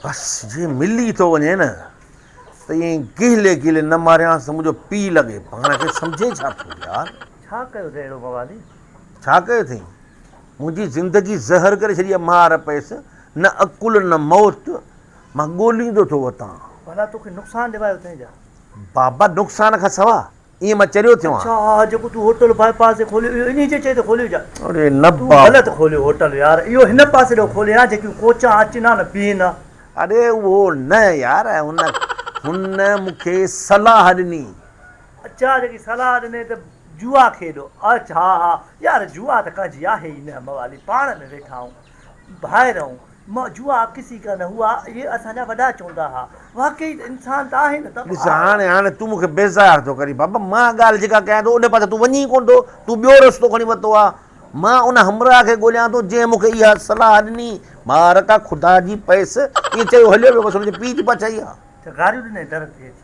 بس جي ملي ئي ٿو وڃي نه ته ائين گيلي گيلي نه ماريانس ته منهنجو پيء لڳي. پاڻ کي سمجهين ڇا ٿو يار؟ ڇا ڪيو اٿئي اهڙو موالي؟ ڇا ڪيو اٿئي؟ منهنجي زندگي زهر ڪري ڇڏي آهي مار پيس نه عقل نه موت مان ڳوليندو ٿو وتان. ڀلا توکي نقصان ڏيوائي اٿئي جا؟ بابا نقصان کان سوا ائين مان چريو ٿيو آهيان. اڇا اها جيڪو تون هوٽل باء پاس تي کوليو اهو انهي جي چئي تي کوليو ڇا؟ اڙي نه بابو. تون غلط کوليو هوٽل يار اهو هن پاسي ڏو کولي ها جيڪيون ڪوچان اچن ها نه بيهن ها. اڙي اهو نه يار هن هن مون کي صلاح ڏني. اڇا جيڪي صلاح ڏني ته جوا کيڏو. اڇا ها ها يار جوا ته ڪا جي آهي ئي نه موالي پاڻ ۾ ويٺا آهون. ڀائرون، مئو جوا ڪسي ڪا نه هوا، اهي اسان جا وڏا چوندا ها. واقعي ته انسان ته آهي نه ته. ڏس هاڻي، هاڻي تون مون کي بيزار ٿو ڪرين. بابا مان ڳالهه جيڪا ڪيان ٿو، ان پاسي تون وڃين ئي ڪونه ٿو. تون ٻيو رستو کڻي ورتو آهي. مان ان همراهه کي ڳوليان ٿو، جنهن مون کي اها صلاح ڏني. مارڪا خدا جي پيس! ائين چيو هليو ويو. بس هن جي پيء جي پڇا اها. چغاريون ڏني در تي اچي.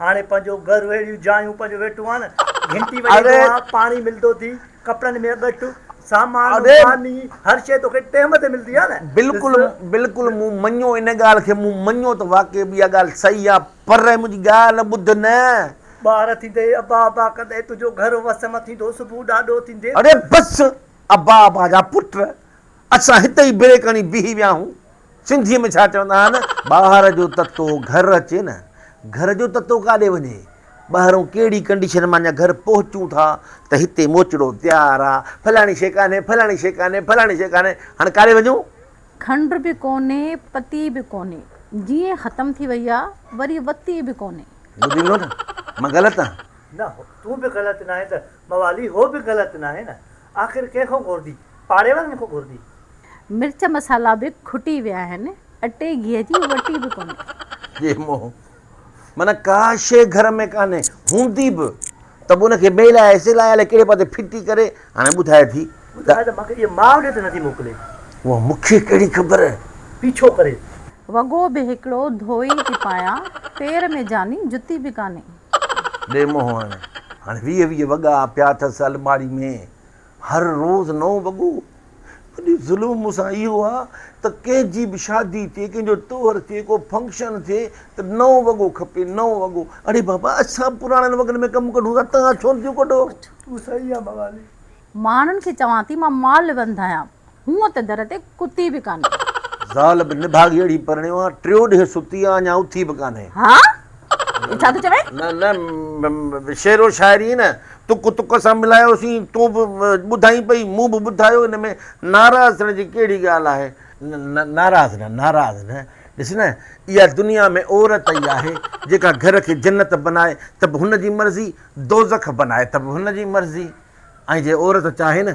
هاڻي پنهنجو گهر اهڙيون جايون پنهنجو ويٺو آن گهنٽي وڄائيندو آن پاڻي ملندو ٿي ڪپڙن ۾ ڳٺ سامان ماني هر شيء توکي ٽيم تي ملندي آن. بلڪل بلڪل مون مڃيو ان ڳالهه کي مون مڃيو ته واقعي به اها ڳالهه صحيح آن پر منهنجي ڳالهه ٻڌ نه. ٻار ٿيندي ابا ابا ڪندي تنهنجو گهر وس م ٿيندو صبح ڏاڏو ٿيندي. اڙي بس ابا ابا جا پٽ اسان هتي ئي بريڪ هڻي بيهي ويا آهيون. سنڌيء ۾ ڇا چوندا آهن، ٻاهر جو تتو گهر اچي نه، گهر جو تتو ڪاڏي وڃي؟ ٻاهرون ڪهڙي ڪنڊيشن مان اڃا گهر پهچون ٿا ته هتي موچڙو تيار آ، فلاڻي شيء ڪانهي، فلاڻي شيء ڪانهي، فلاڻي شيء ڪانهي، هاڻي ڪاڏي وڃون؟ کنڊ به ڪونهي، پتي به ڪونهي، جيئن ختم ٿي وئي آ، وري وتي به ڪونهي. ٻڌي ڏنو نه، مان غلط آهيان؟ نه، تون به غلط ناهين ته موالي هو به غلط ناهي نه، آخر ڪنهن کان گهربي. پاڙي وارن کان گهربي. مرچ مصالحا به کٽي ويا آهن. اٽي گيهه جي وٽي به ڪونهي. جي مون معنيٰ ڪا شيء گهر ۾ ڪانهي، هوندي به ته به ان کي ميل آهي سيل آهي الائي ڪهڙي پاسي ڦٽي ڪري هاڻي ٻڌائي ٿي ته. ٻڌائي ته مانکي اهي ماء ڏي ته نٿي موڪلي. اها مونکي ڪهڙي خبر. پيڇو ڪري. وڳو به هڪڙو ڌوئي ٿي پايان. پير ۾ جاني جتي به ڪانهي. ڏي منهن هڻ. هاڻي ويهه ويهه وڳا پيا اٿس الماڙي ۾. هر روز نئون وڳو. وڏي ظلم مون سان اهو آ ته ڪنهن جي به شادي ٿئي، ڪنهن جو طوهر ٿئي، ڪو فنڪشن ٿئي ته نئون وڳو کپي، نئون وڳو. اڙي بابا اسان به پراڻن وڳن ۾ ڪم ڪڍون ٿا، توهان ڇو نٿيون ڪڍو؟ تون صحيح آ موالي. ماڻهن کي چوان ٿي مان مالوند آهيان. هونء ته در تي ڪتي به ڪانهي. زال به نڀاڳي اڙي پرڻيو آ. ٽيو ڏينهن ستي آ اڃا اٿي به ڪانهي. ها! هي ڇا ٿو چوين؟ نه نه شعر و شاعري نه تڪ تڪ سان ملايوسين. تون به ٻڌائين پئي مون به ٻڌايو ان ۾ ناراض ٿيڻ جي ڪهڙي ڳالهه آهي. نه نه ناراض نه ناراض نه. ڏس نه اها دنيا ۾ عورت ئي آهي جيڪا گهر کي جنت بنائي ته به هن جي مرضي دوزخ بنائي ته به هن جي مرضي ۽ جي عورت چاهي نه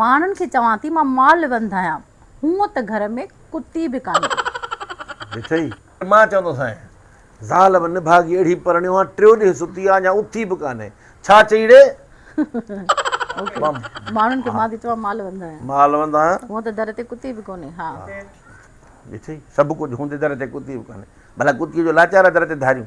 ماڻهن کي چوان ٿي مان مال وند آهيان. هونء ته گهر ۾ ڪتي به ڪانهي. ڏٺئي؟ مان چوندو سائين! زال به نڀاڳي اهڙي پرڻيو آهيان، ٽيو ڏينهن ستي آهيان، اڃا اٿي به ڪانهي. ڇا چئي ڙي؟ ماڻهن کي مان ٿي چوان مال وند آهيان. مال وند آهيان. هونء ته در تي ڪتي به ڪونهي. ها! ڏٺئي؟ سڀ ڪجهه هوندي در تي ڪتي به ڪانهي. ڀلا ڪتيء جو لاچار آهي در تي ڌاريون.